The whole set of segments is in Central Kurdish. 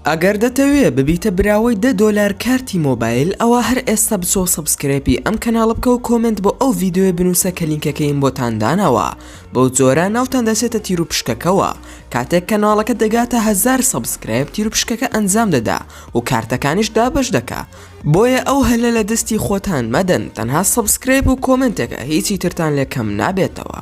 ئەگەر دەتەوێ ببیتە براوەی دە دۆلار کارتی مۆبایل ئەوا هەر ئێستا بچۆ سەبسکرێپی ئەم کەناڵە بکەو کۆمێنت بۆ ئەو ڤیدۆیە بنوسە کە لینکەکەیم بۆتان داناوە بەو جۆرە ناوتان دەچێتە تیروپشکەکەوە کاتێک کەناڵەکە دەگاتە هەزار سەبسکرێپ تیروپشکەکە ئەنجام دەدا و کارتەکانیش دابش دەکا بۆیە ئەو هەلە لە دەستی خۆتان مەدەن تەنها سەبسکرێپ و کۆمنتێکە هیچی ترتان لێ کەم نابێتەوە.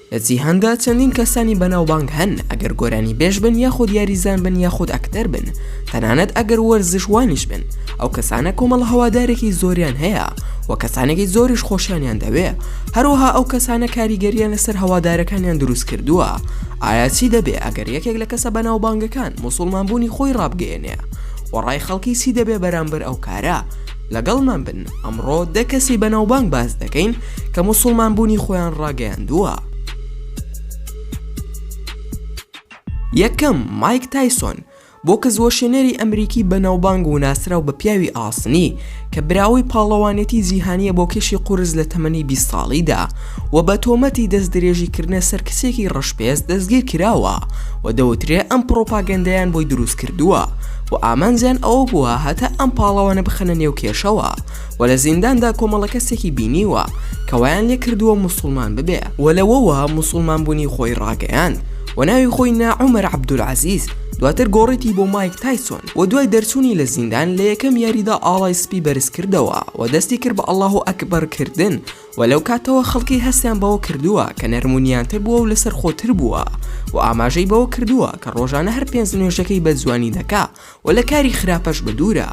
لە جیهاندا چەندین کەسانی بەناوبانگ هەن ئەگەر گۆرانیبێژ بن یاخود یاریزان بن یاخود ئەکتەر بن تەنانەت ئەگەر وەرزشوانیش بن ئەو کەسانە کۆمەڵە هەوادارێکی زۆریان هەیە و کەسانێکی زۆریش خۆشیانیان دەوێ هەروەها ئەو کەسانە کاریگەریان لەسەر هەوادارەکانیان دروست کردووە ئایا چی دەبێ ئەگەر یەکێک لە کەسە بەناوبانگەکان موسوڵمان بوونی خۆی ڕابگەیەنێ وەڕای خەڵکی چی دەبێ بەرامبەر ئەو کارە لەگەڵمان بن، ئەمڕۆ دە کەسی بەناوبانگ باس دەکەین کە موسڵمان بوونی خۆیان ڕاگەیاندووە. یەکەم، مایک تایسۆن، بۆکس وەشێنەری ئەمریکی بەناوبانگ وناسراو بە پیاوی ئاسنی، کە براوەی پاڵەوانێتی جیهانیە بۆ کێشی قورس لە تەمەنی بیست ساڵیدا، و بە تۆمەتی دەستدرێژیکردنە سەر کچێکی ڕەشپێست دەستگیرکراوە و دەوترێ ئەم پڕۆپاگەندەیان بۆی دروستکردووە و ئامانجیان ئەوە بووە هەتا ئەم پاڵەوانە بخەنە نێو کێشەوە و لە زینداندا کۆمەڵە کەسێکی بینیوە کە وایان لێکردووە موسوڵمان ببێ و لەوەوە موسوڵمانبوونی خۆی ڕاگەیاند و ناوی خۆی نا عومەر عەبدولعەزیز، دواتر گۆڕیی بۆ مایک تایسۆن و دوای دەرچوونی لە زیندان لە یەکەم یاریدا ئاڵای سپی بەرزکردەوە و دەستی کرد بە ئەڵاهوئەکبەر کردن و لەو کاتەوە خەڵکی هەستیان بەوە کردووە کە نەرم و نیانتر بووە و لەسەرخۆتر بووە و ئاماژەی بەوە کردووە کە ڕۆژانە هەر پێنج نوێژەکەی بە جوانی دەکا و لە کاری خراپەش بەدوورە.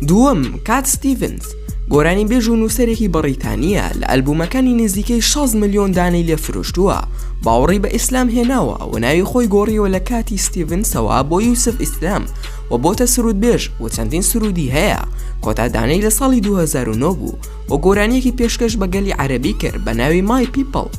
دووەم، کات ستیڤنز، گۆرانیبێژ و نووسەرێکی بەڕیتانییە، لە ئەلبوومەکانی نزیکەی شەست ملیۆن دانەی لێ فرۆشتووە، باوەڕی بە ئیسلام هێناوە و ناوی خۆی گۆڕیوە لە کاتی ستیڤنسەوە بۆ یوسف ئیسلام، و بۆتە سروودبێژ و چەندین سروودی هەیە کۆتا دانەی لە ساڵی دوو هەزار و نۆ بوو و گۆرانیەکی پێشکەش بە گەلی عەرەبی کرد بە ناوی مای پیپڵ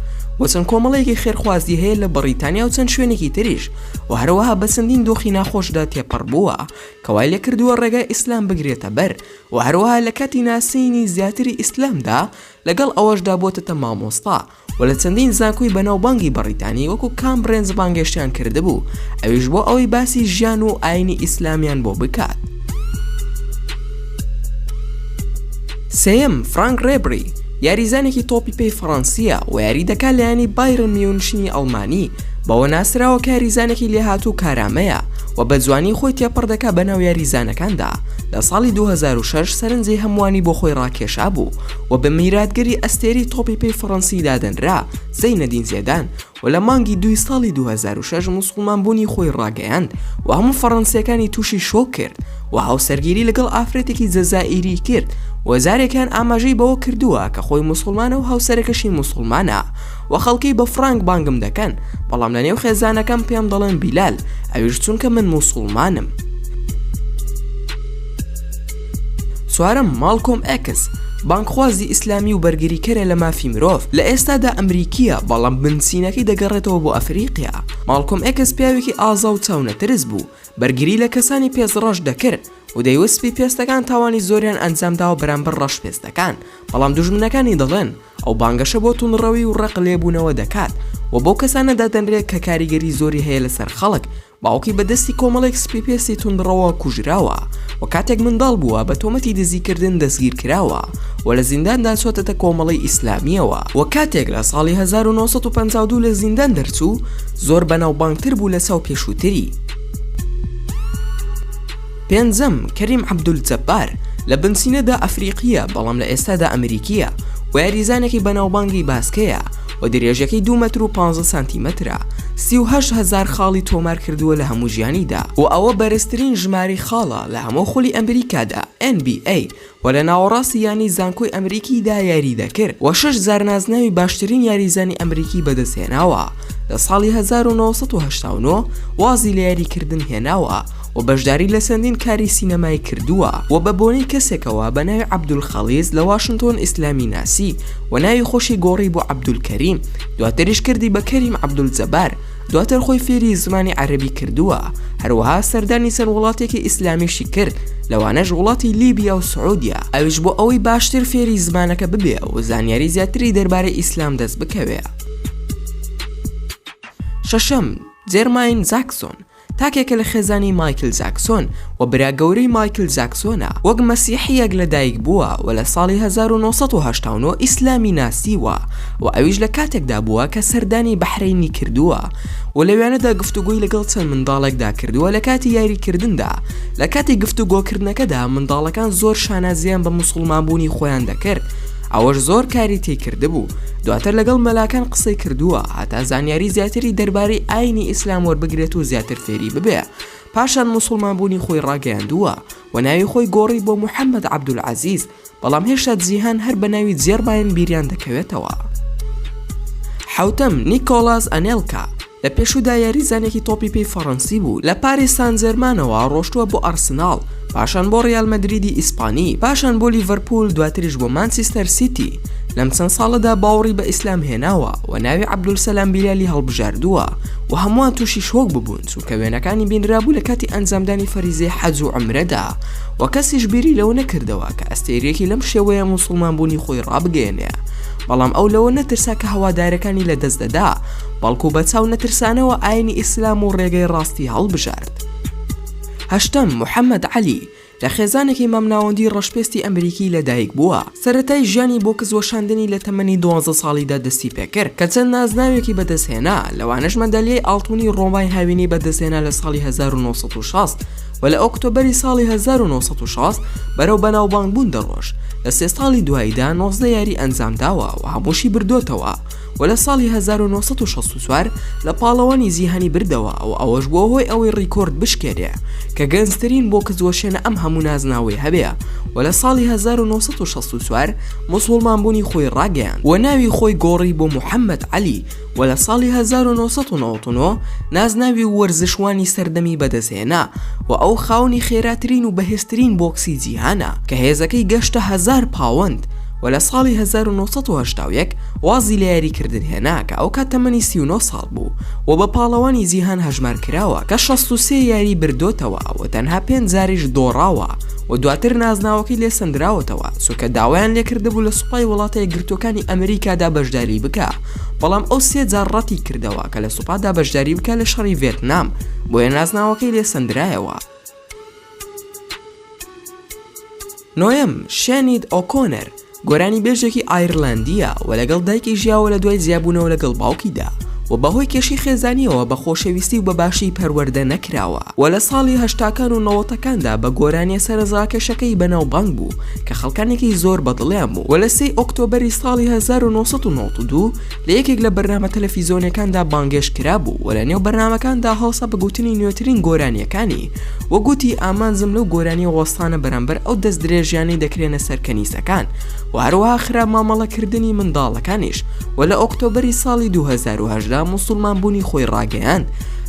و چەند کۆمەڵەیەکی خێرخوازی هەیە لە بەڕیتانیا و چەند شوێنێکی تریش و هەروەها بە چەندین دۆخی ناخۆشدا تێپەڕ بووە کە وای لێ کردووە ڕێگای ئیسلام بگرێتە بەر و هەروەها لە کاتی ناسینی زیاتری ئیسلامدا لەگەڵ ئەوەشدا بۆتەتە مامۆستا و لە چەندین زانکۆی بەناوبانگی بەڕیتانی وەکو کامبرێنج بانگێشتیان کردبوو ئەویش بۆ ئەوەی باسی ژیان و ئاینی ئیسلامیان بۆ بکات سێم فرانک ڕێبری یاریزانێکی تۆپی پێی فەڕەنسیە و یاری دەکات لایەنی بایرن میونشنی ئەڵمانی بەوە ناسراوە کاریزانێکی لێهاتوو کارامەیە و بە جوانی خۆی تێپەڕ دەکات بە ناو یاریزانەکاندا لە ساڵی 2006 سەرنجی هەمووانی بۆ خۆی ڕاکێشا بوو و بە میراتگری ئەستێرەی تۆپی پێی فەڕەنسی دادەنرا زەینەدین زێدان و لە مانگی دووی ساڵی دوو هەزار و شەش موسڵمان بوونی خۆی ڕاگەیاند و هەموو فەڕەنسییەکانی تووشی شۆک کرد و هاوسەرگیری لەگەڵ ئافرەتێکی جەزائیری کرد و جارێکیان ئاماژەی بەوە کردووە کە خۆی موسڵمانە و هاوسەرەکەشی موسڵمانە و خەڵکی بە فڕانک بانگم دەکەن بەڵام لەنێو خێزانەکەم پێم دەڵێن بیلال ئەویش چونکە من موسڵمانم. چوارەم، ماڵکۆم ئێکس، بانگخوازی ئیسلامی و بەرگریکەرە لە مافی مرۆڤ، لە ئێستادا ئەمریکییە، بەڵام بنچینەکەی دەگەڕێتەوە بۆ ئەفریقیا. ماڵکۆم ئێکس پیاوێکی ئازا و چاونەترس بوو، بەرگری لە کەسانی پێست ڕەش دەکرد و دەیوت سپی پێستەکان تاوانی زۆریان ئەنجامداوە بەرامبەر ڕەشپێستەکان، بەڵام دوژمنەکانی دەڵێن ئەو بانگەشە بۆ توندڕەوی و ڕق لێبوونەوە دەکات و بەو کەسانە دادەنرێت کە کاریگەری زۆری هەیە لەسەر خەڵک، باوکی بە دەستی کۆمەڵێک سپیپێستی توندڕەوە کوژراوە و کاتێک منداڵ بووە بە تۆمەتی دزیکردن دەستگیرکراوە و لە زینداندا چۆتەتە کۆمەڵەی ئیسلامییەوە و کاتێک لە ساڵی هەزار و نۆ سەد و پەنجا و دوو لە زیندان دەرچوو زۆر بەناوبانگتر بوو لە چاو پێشووتری. پێنجەم، کەریم عەبدولجەبار، لە بنچینەدا ئەفریقییە، بەڵام لە ئێستادا ئەمریکییە و یاریزانێکی بەناوبانگی باسکەیە و درێژەکەی دوو مەتر و پازدە سانتیمەترە، سی و هەشت هەزار خاڵی تۆمار کردووە لە هەموو ژیانیدا و ئەوە بەرزترین ژمارەی خاڵە لە هەموو خولی ئەمریکادا، NBA، و لە ناوەڕاستی یانەی زانکۆی ئەمریکیدا یارییدەکرد و شەش جار نازناوی باشترین یاریزانی ئەمریکی بەدەستهێناوە، لە ساڵی هەزار و نۆ سەد و هەشتا و نۆ وازی لە یاریکردن هێناوە و بەشداری لە چەندین کاری سینەمایی کردووە و بە بۆنەی کەسێکەوە بە ناوی عەبدولخەڵیج لە واشنتۆن ئیسلامی ناسی و ناوی خۆشی گۆڕی بۆ عەبدولکەریم دواتریش کردی بە کەریم عەبدولجەبار دواتر خۆی فێری زمانی عەرەبی کردووە، هەروەها سەردانی چەند وڵاتێکی ئیسلامیشی کرد، لەوانەش وڵاتی لیبیا و سعودیە، ئەویش بۆ ئەوەی باشتر فێری زمانەکە ببێ و زانیاری زیاتری دەربارەی ئیسلام دەست بکەوێ. شەشەم، جێرماین جاکسۆن، تاکێکە لە خێزانی مایکل جاکسۆن، و برا گەورەی مایکل جاکسۆنە، وەک مەسیحییەک لە دایک بووە و لە ساڵی هەزار و نۆ سەد و هەشتا و نۆ ئیسلامی ناسیوە و ئەویش لە کاتێکدا بووە کە سەردانی بەحرەینی کردووە و لەوێنەدا گفتوگۆی لەگەڵ چەند منداڵێکدا کردووە لە کاتی یاریکردندا، لە کاتی گفتوگۆکردنەکەدا منداڵەکان زۆر شانازییان بە موسوڵمان بوونی خۆیان دەکرد، ئەوەش زۆر کاری تی کردبوو، دواتر لەگەڵ مەلاکان قسەی کردووە هەتا زانیاری زیاتری دەربارەی ئاینی ئیسلام وەربگرێت و زیاتر فێری ببێ. پاشان موسوڵمان بوونی خۆی ڕاگەیاندووە و ناوی خۆی گۆڕی بۆ محەمەد عەبدولعەزیز، بەڵام هێشتا جیهان هەر بە ناوی جێرماین بیریان دەکەوێتەوە. حەوتەم، نیکۆڵاس ئەنێلکا، لە پێشوودا یاریزانێکی تۆپی پێی فەڕەنسی بوو، لە پاریس سانجێرمانەوە ڕۆشتووە بۆ ئارسناڵ، پاشان بۆ ڕیال مەدریدی ئیسپانی، پاشان بۆ لیڤەرپوول، دواتریش بۆ مانچستەر سیتی، لەم چەند ساڵەدا باوەڕی بە ئیسلام هێناوە و ناوی عەبدولسەلام بیلالی هەڵبژاردووە و هەمووان تووشی شۆک ببوون، کە وێنەکانی بینرابوو لە کاتی ئەنجامدانی فەریزەی حەج و عمرەدا و کەسیش بیری لەوە نەکردەوە کە ئەستێریەکی لەم شێوەیە موسڵمان بوونی خۆی ڕابگەێنێ بەڵام ئەو لەوە نەترسا کە هەوادارەکانی لە دەست دەدا بەڵکو بە چاو نەترسانەوە ئاینی ئیسلام و ڕێگەی ڕاستی هەڵبژارد هەشتم محەممەد عەلی لە خێزانێکی مامناوەندی ڕەشپێستی ئەمریکی لە دایک بووە، سەرەتای ژیانی بۆ کز وەشاندنی لە تەمەنی دوازدە ساڵیدا دەستی پێ کرد کە چەند نازناوێکی بەدەست هێنا لەوانەش مەدالیای ئاڵتونی ڕۆمای هاوینی بەدەست هێنا لە ساڵی هەزار و نۆ سەد و شەست و لە ئۆکتۆبەری ساڵی هەزار و نۆ سەد و شەست بەرەو بەناوبانگ بوون دەڕۆشت لە سێ ساڵی دواییدا نۆزدە یاری ئەنجام داوە و هەمووشی بردۆتەوە. و لە ساڵی هەزار و نۆ سەد و شەست و چوار لە پاڵەوانی جیهانی بردەوە و ئەوەش بووە هۆی ئەوەی ڕیکۆرد بشکێنێ کە گەنجترین بۆکس وەشێنە ئەم هەموو نازناوەی هەبێ و لە ساڵی هەزار و نۆ سەد و شەست و چوار موسوڵمان بوونی خۆی ڕاگەیاند و ناوی خۆی گۆڕی بۆ محەمەد عەلی و لە ساڵی هەزار و نۆ سەد و نەوەد و نۆ نازناوی وەرزشوانی سەردەمی بەدەست هێنا و ئەو خاوەنی خێراترین و بەهێزترین بۆکسی جیهانە کە هێزەکەی گەشتە هەزار پاوەند و لە ساڵی هەزار و نۆ سەد و هەشتا و یەک وازی لە یاریکردن هێنا کە ئەوکات تەمەنی سی و نۆ ساڵ بوو و بە پاڵەوانی جیهان هەژمارکراوە کە شەست و سێ یاریی بردۆتەوە و تەنها پێنج جاریش دۆڕاوە و دواتر نازناوەکەی لێ سەندراوەتەوە چونکە داوایان لێکردبوو لە سوپای وڵاتە یەکگرتووەکانی ئەمریکادا بەشداری بکا بەڵام ئەو سێ جار ڕەتی کردەوە کە لە سوپادا بەشداری بکا لە شەڕی ڤێتنام بۆیە نازناوەکەی لێ سەندرایەوە. نۆیەم، شێنید ئۆکۆنەر، گۆرانیبێژێکی ئایرلەندییە و لەگەڵ دایکی ژیاوە لە دوای جیابوونەوە لەگەڵ باوکیدا و بەهۆی کێشەی خێزانییەوە بە خۆشەویستی و بە باشی پەروەردە نەکراوە و لە ساڵی هەشتاکان و نەوەتەکاندا بە گۆرانییە سەرنجڕاکێشەکەی بەناوبانگ بوو کە خەڵکانێکی زۆر بەدڵیان بوو و لە سێی ئۆکتۆبەری ساڵی هەزار و نۆ سەد و نەوەد و دوو لە یەکێک لە بەرنامە تەلەفیزۆنیەکاندا بانگێشت کرابوو و لە نێو بەرنامەکاندا هەوسا بە گوتنی نوێترین گۆرانیەکانی و گوتی ئامانجم لەو گۆرانیە وەستانە بەرامبەر ئەو دەست درێژیانەی دەکرێنە سەر کەنیسەکان و هەروەها خراپ مامەڵە کردنی منداڵەکانیش و لە ئۆکتۆبەری ساڵی 2018 موسوڵمان بوونی خۆی ڕاگەیاند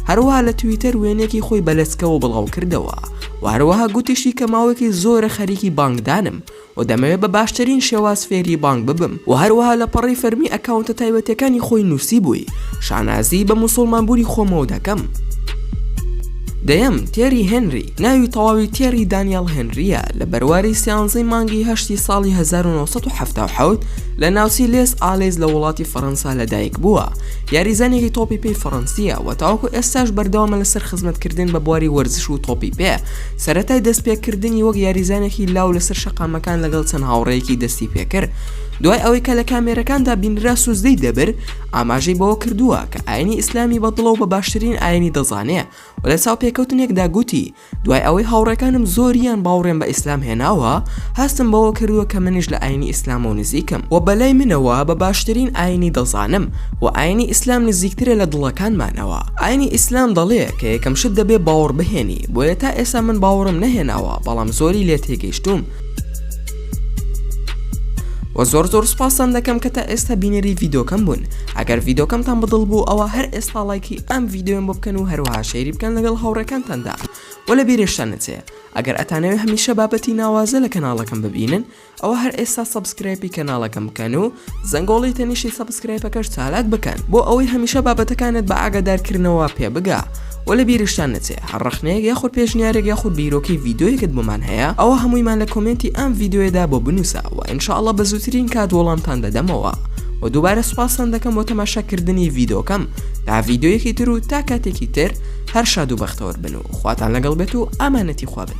هەروەها لە تویتەر وێنەیەکی خۆی بە لەچکەوە بڵاو کردەوە و هەروەها گوتیشی کە ماوەیەکی زۆرە خەریکی بانگدانم و دەمەوێت بە باشترین شێواز فێری بانگ ببم و هەروەها لە پەڕەی فەرمی ئەکاونتە تایبەتیەکانی خۆی نوسیبووی شانازی بە موسوڵمان بوونی خۆمەوە دەکەم. دەیەم، تێری هێنری، ناوی تەواوی تێری دانیەڵ هێنریە، لە بەرواری سیانزەی مانگی هەشتی ساڵی هەزار و نۆ سەد و حەفتا و حەوت لە ناوچەی لێس ئالێز لە وڵاتی فەرەنسا لەدایک بووە، یاریزانێکی تۆپی پێی فەرەنسیە و تاوەکو ئێستاش بەردەوامە لەسەر خزمەتکردن بە بواری وەرزش و تۆپی پێ، سەرەتای دەستپێکردنی وەک یاریزانێکی لاو لەسەر شەقامەکان لەگەڵ چەند هاوڕێیەکی دەستی پێکرد، دوای ئەوەی کە لە کامێرەکاندا بینرا سوزدەی دەبر ئاماژەی بەوە کردووە کە ئاینی ئیسلامی بە دڵە و بە باشترین ئاینی دەزانێ و لە چاوپێکەوتنێکدا گوتی دوای ئەوەی هاوڕێکانم زۆریان باوڕێم بە ئیسلام هێناوە هەستم بەوە کردووە کە منیش لە ئاینی ئیسلامەوە نزیکم و بەلای منەوە بە باشترین ئاینی دەزانم و ئاینی ئیسلام نزیکترە لە دڵەکانمانەوە ئاینی ئیسلام دەڵێ کە یەکەم شت دەبێ باوڕبهێنی بۆیە تا ئێستا من باوەڕم نەهێناوە بەڵام زۆری لێ تێگەیشتووم و زۆر زۆر سپاسان دەکەم کە تا ئێستا بینەری ڤیدۆکەم بوون ئەگەر ڤیدۆکەمتان بەدڵ بوو ئەوە هەر ئێستا لایکی ئەم ڤیددیوم بۆ بکەن و هەروها شەیری بکەن لەگەڵ هاوڕێکانتاندا و لە بیرێشتان نچێ ئەگەر ئەتانەوێ هەمیشە بابەتی ناوازە لە کەناڵەکەم ببینن ئەوە هەر ئێستا سەبسکرایپی کەناڵەکەم بکەن و زەنگۆڵی تەنیشی سەبسکرایپەکەش چالاک بکەن بۆ ئەوەی هەمیشە بابەتەکانت بە ئاگادارکردنەوە پێ بگا و لە بیرشتان نەچێ هەر ڕەخنەیەک یاخود پێشنیارێک یاخود بیرۆکەی ڤیدۆیەکت بۆمان هەیە ئەوە هەموویمان لە کۆمێنتی ئەم ڤیدۆیەدا بۆ بنووسە و ان شاء اللە بە زووترین کات وەڵامتان دەدەمەوە و دووبارە سوپاستان دەکەم بۆ تەماشاکردنی ڤیدۆکەم تا ڤیدۆیەکی تر و تا کاتێکی تر هەر شاد و بەختەوەر بن و خواتان لەگەڵ بێت و ئامانەتی خوا بن